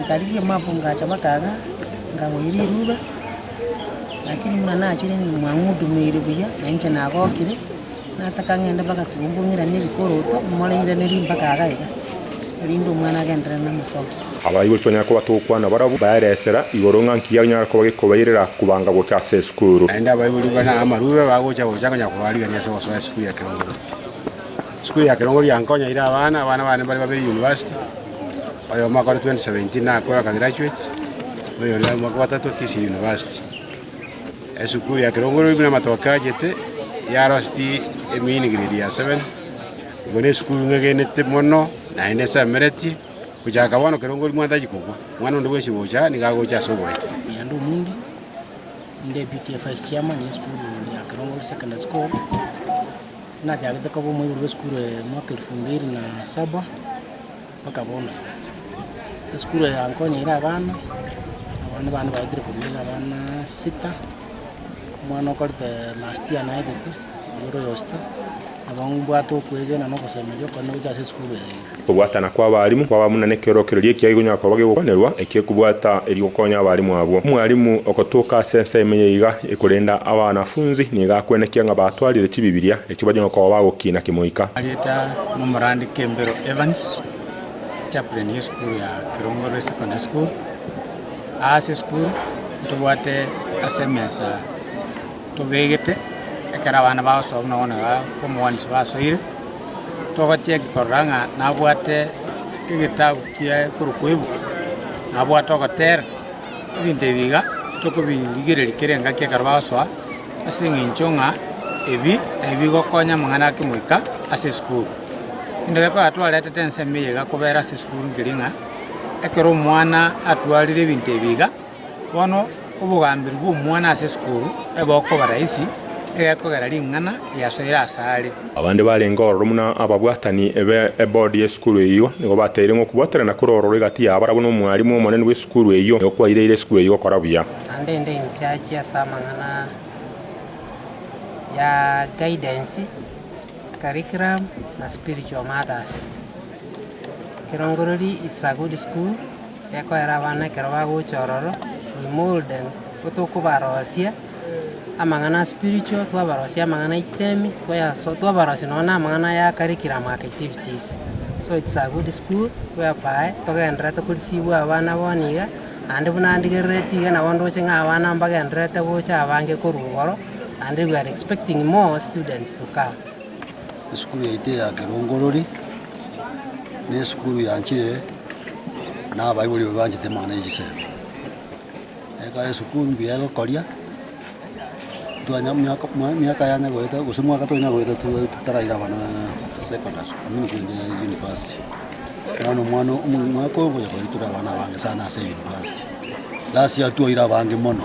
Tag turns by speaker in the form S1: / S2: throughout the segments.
S1: Nkarigia omwaga ngacha amataga, nkagoyia riruba, lakini buna nachire omwaga ng'udumeire buya, na inche nagokire, nataka ng'ende mpaka kegumbu ng'iranie ebikoroto, more ng'iranerie mpaka iga na iga, erinde omwana agenderere namasomo. Abaibori twanyare koba togokwana barabwo baere esera igoro ng'a nki gianyare koba gekobairera kobaanga gocha ase esukuru. Naende abaibori buna amarube bagocha gocha konya kobarigania ase gosoa esukuru ya kirongori. Sukuru ya kerongo riankonya ire abana, abana bane mbare babere university, oyomo akore 2017 nakore aka graduate, oyonde are omwaka bwatato akisirie university. Esukuru ya kerongo rori buna amatoke achete yarostie emiini grade ya seven, igo ne esukuru ing'egenete mono naende nsemeretie, gochaka bono kerongo rori mwantachi kobua, omwana onde bwensi ogocha aa niga agocha ase oboete. Nyanda Omundi, Deputy Vice Chairman y'esukuru ya Kerongo Secondary School. Nachagete koba omoibori bw'esukuru eye mwaka elfu mbiri na saba mpaka bono. Esukuru eye yankonyeire abana, abana bane baetire korwa iga abana sita, omwana okorete last year naetete, oyio ore oyosita, nabo mbwate okwegena na ogosemeria okone gocha ase esukuru eye. Okobwatana kw'abarimu kwaba buna nekeorokererio ekiaga ekonyara koba gegokonerwa eki'e kobwata erio gokonya abarimu abwo. Omwarimu ogotoka ase ense ime yaiga ekorenda abanafunzi nigo akwenekia ng'a batwarire chibibilia echio banyare koba bagokina kimoika. Arieta nomorandi Kembero Evans, chaplain y'esukuru ya Kirongorwe Secondary School. Aase esukuru ntobwate ase emesa. tobegete ekero abana bagosoa buna bono igaa form ones basoire, togocheki korora ng'a nabwate egetabu kiaye ekorokwa ebuku, nabwate ogotera, ebinto ebi iga tokobirigereria kera engaki ekero bagosoa ase eng'encho ng'a ebi nabi bigokonya amang'ana ake goika ase esukuru. Kende gete ekero twaretete ensemo eye iga kobera ase esukuru nkeri ng'a ekero omwana atwarire ebinto ebi iga. Bono obogamberi bw'omwana ase esukuru ebe okoba rahisi, egekogera ring'ana riasoire ase are. Abande barenge ororo buna ababwatani be ebodi y'esukuru eyio nigo bataire ng'a okobwaterana kore ororo egati y'abarabwo na omwarimu omonene bw'esukuru eyio nigo kwaireire esukuru eyio gokora buya. Naende inde inchiachi ase amang'ana ya guidance, curriculum, na spiritual mothers. Kirongoriri, It's a good school. Gekoera abana ekero bagocha ororo, we mold them, nigo tokobarosia amang'ana a spiritual, twabarosia amang'ana a chisemi, twayaso twabarosia nonye na amang'ana aya a curriculum aa activities. So it's a good school whereby togendererete koreceive abana bono iga, naende buna ndigerereti iga nabo ndoche ng'a abana mbagendererete gocha abange korwa igoro, naende we are expecting more students to come. Esukuru yaito eya kerongorori nesukuru yanchire nabaibori baria banchete mana ya chisemi. Ekero esukuru mbuya egokoria, twanya miaka miaka yane goeta gose mwaka tonya goeta totaraira abana secondary school amini korende university. Bono omwana omo mwaka oyo ngocha koira tore abana abange sana ase university. Last year twaira abange mono.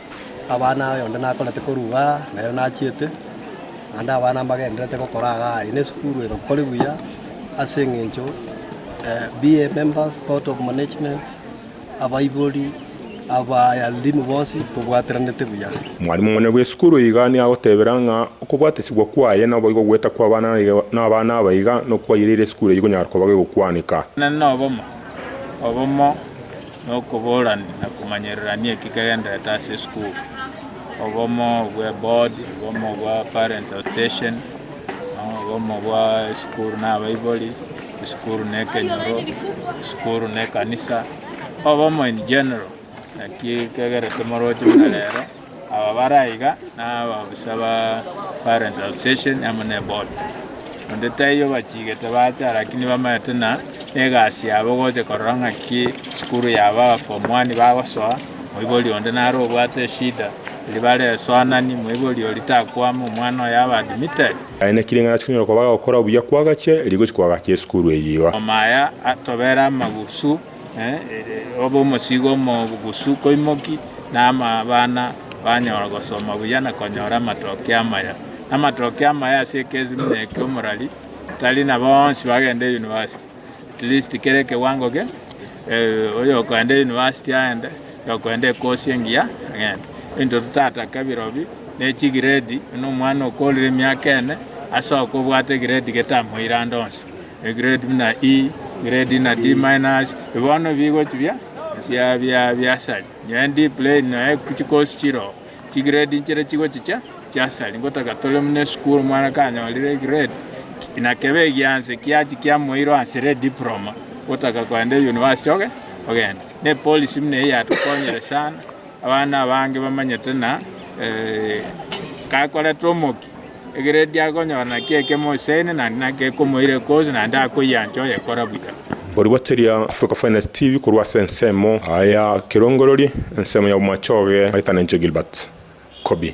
S1: Abana aye onde nakorete korwa aa, na ere nachiete, naende abana mbagendererete gokora iga aye, na esukuru egokore buya ase eng'encho be a members, board of management, abaibori, abaalimu bonsi tobwateraneete buya. Mwalimu omonene bw'esukuru eye iga nigo agotebera ng'a okobwatesigwa kwaye naboigo goeta kw'abana n'abana aba iga nokwaireire esukuru eye konyara koba gegokwaneka. Inee nobomo obomo nokoborania na komanyererania eki kegendererete ase esukuru, obomo bwe board, obomo bwa parents association, obomo bwa esukuru na abaibori, esukuru na ekenyoro, esukuru na ekanisa, obomo in general, naki kegerete moroche buna rero. Aba bare aiga nabaobosa ba Parents Association amo ne Board, onde taiyo bachigete baacha lakini bamaete na egasi yabo gocha korora ng'aki sukuru yabo aba form one bagosoa, moibori onde nare obwate eshida eria bare esoanani, moibori oria takwama omwana oye abe admitted. Baenekire ng'a nachia konyora koba gokora buya kw'agache, erio gochi kw'agache esukuru eyio iga. Omaya atobere amagusu. obe omosiigo omogusu koimoki, na abana banyora gosoma buya na konyora amatokeo amaya. Amatokeo amaya ase ekesi buna eke omorari tari na bonsi bagende university. At least kera ekewango kere oyokogenda university aende, oyokogenda ekosi engiya agende. Ebinto totatake birobio ne chigrade buna omwana okoorire emiaka ene ase okobwate egrade getamoire ande onsi. E grade buna E grade na D minus bono bigochi bia bia bia biasari nonya D plain nonya chikosi chiroo chi grade nchire chigochi chia chiasari ngotaka tore buna esukuru omwana kanyorire grade na kebe egianse kiachia kiamoirwa ase re diploma gotaka kogenda university oge ogenda na epolisi buna eye yatokonyire sana abana abange bamanyete buna kakorete omokia. Ekero erio akonyora naki ekemo oseene naende naki ekomoira ekoosi naende akoiancha oyekora buya. Origoteria Africa Finest TV korwa ase ensemo ya Kirongorori, ensemo ya Bomachoge, Maritana Nche Gilbert, Kobi.